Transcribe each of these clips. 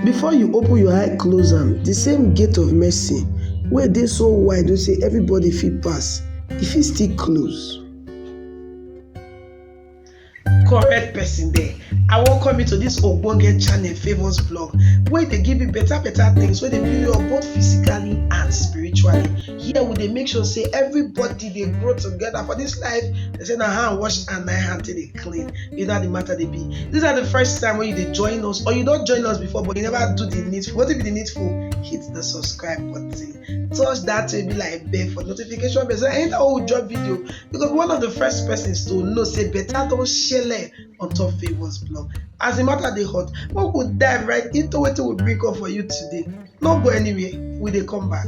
Before you open your eye close am, di same gate of mercy wey dey so wide wey sey everybody fit pass, e fit still close. Correct person there, I welcome you to dis ogbonge channel Favours Blog wey dey give you better better things wey dey build you up both physically and spiritually. Here we dey make sure sey everybody dey grow together for dis life, dem sey na hand wash hand na im hand take dey clean you know how the matter dey be these are the first time when you dey join us or you don join us before but you never do the needful wetin be the needful hit the subscribe button touch that way be like bell for notification bell so anytime wey we drop video you go be one of the first persons to know say better don shele on top favours blog as the matter dey hot make we dive right into wetin we bring come for you today no go anywhere we dey come back.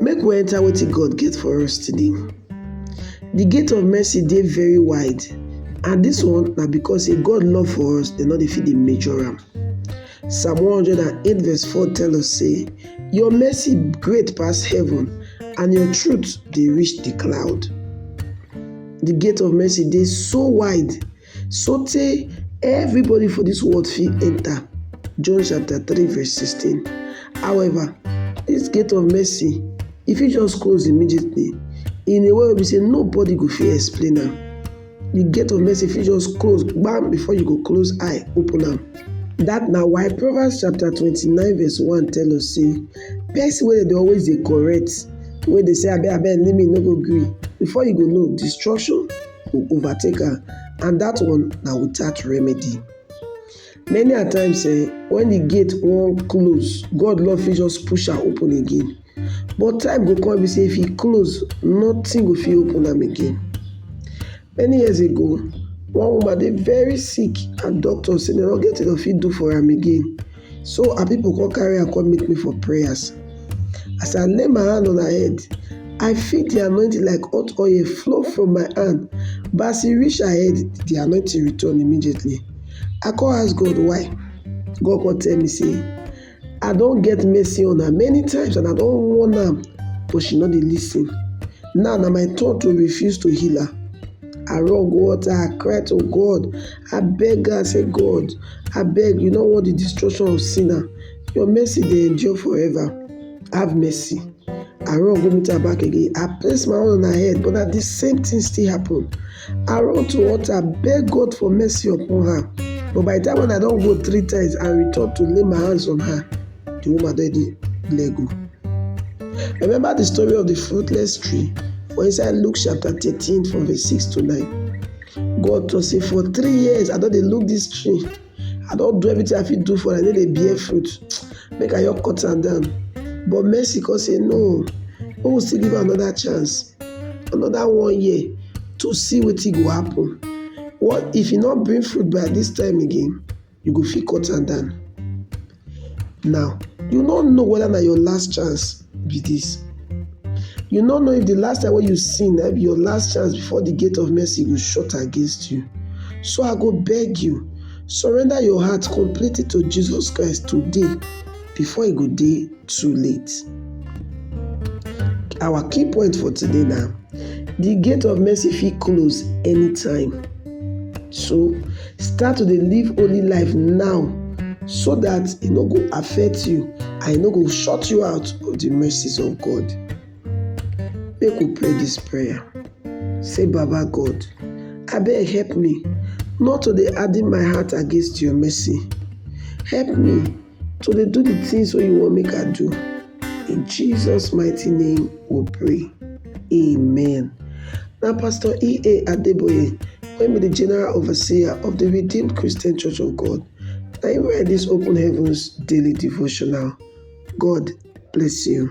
Make we enter wetin God get for us today. The gate of mercy dey very wide and this one na because say God love for us dem no dey fit dey measure am. Psalm 108 verse 4 tell us say your mercy great pass heaven and your truth dey reach the cloud. The gate of mercy dey so wide Sotey everybody for dis world fit enta, John chapter three verse sixteen. However, dis gate of mercy e fit just close immediately in a way wey be sey nobody go fit explain am. Di gate of mercy fit just close gbam before you go close eye open am. Dat na why Proverbs chapter twenty-nine verse one tell us sey person wey dey always dey correct, wey dey say abeg abeg leave me no go gree before you go know destruction go overtake am and that one na without remedy. Many a times eh, when the gate wan close, God Lord fit just push am open again. But time go come be say if e close, nothing go fit open am again. Many years ago, one woman dey very sick and doctor say dem no get wetin dem fit do for am again. So her pipo come carry am come meet me for prayers. As I lay my hand on her head, I feel di anointing like hot oil flow from my hand, but as e reach her head, di anointing return immediately. I come ask God why. God come tell me say, I don get mercy on her many times and I don warn am, but she no dey lis ten. Now na my turn to refuse to heal her. I run go altar, I cry to God, I beg am say, God, Abeg, you no want the destruction of sinner. Your mercy dey endure forever. Have mercy. I run go meet her back again. I place my own on her head, but na the same thing still happen. I run to altar, beg God for mercy upon her. But by the time when I don go three times and return to lay my hands on her, the woman don dey let go. Remember the story of the fruitless tree for inside Luke chapter 13 from verse 6 to 9. God tok sey for three years I don dey look dis tree, I don do everything I fit do for am, e no dey bear fruit, make I just cut am down. But Mercy come say no, make we still give am another chance, another one year to see wetin go happen. What if e no bring fruit by dis time again? you go fit cut am down. Now you no know whether na your last chance be this. You no know if the last time when you sin na be your last chance before the gate of mercy go shut against you. So I go beg you, surrender your heart completely to Jesus Christ today before e go day. too late. Our key point for today na the gate of mercy fit close anytime. So start to dey live holy life now so that e no go affect you and e no go shut you out of the mercies of God. Make we pray this prayer. Say Baba God, abeg help me not to dey harden my heart against your mercy. Help me to dey do the things wey you wan make her do. In Jesus mighty name we pray. Amen. Na Pastor E.A. Adeboye wey be the General Overseer of the Redeemed Christian Church of God na him write this Open Heavens Daily Devotional. God bless you.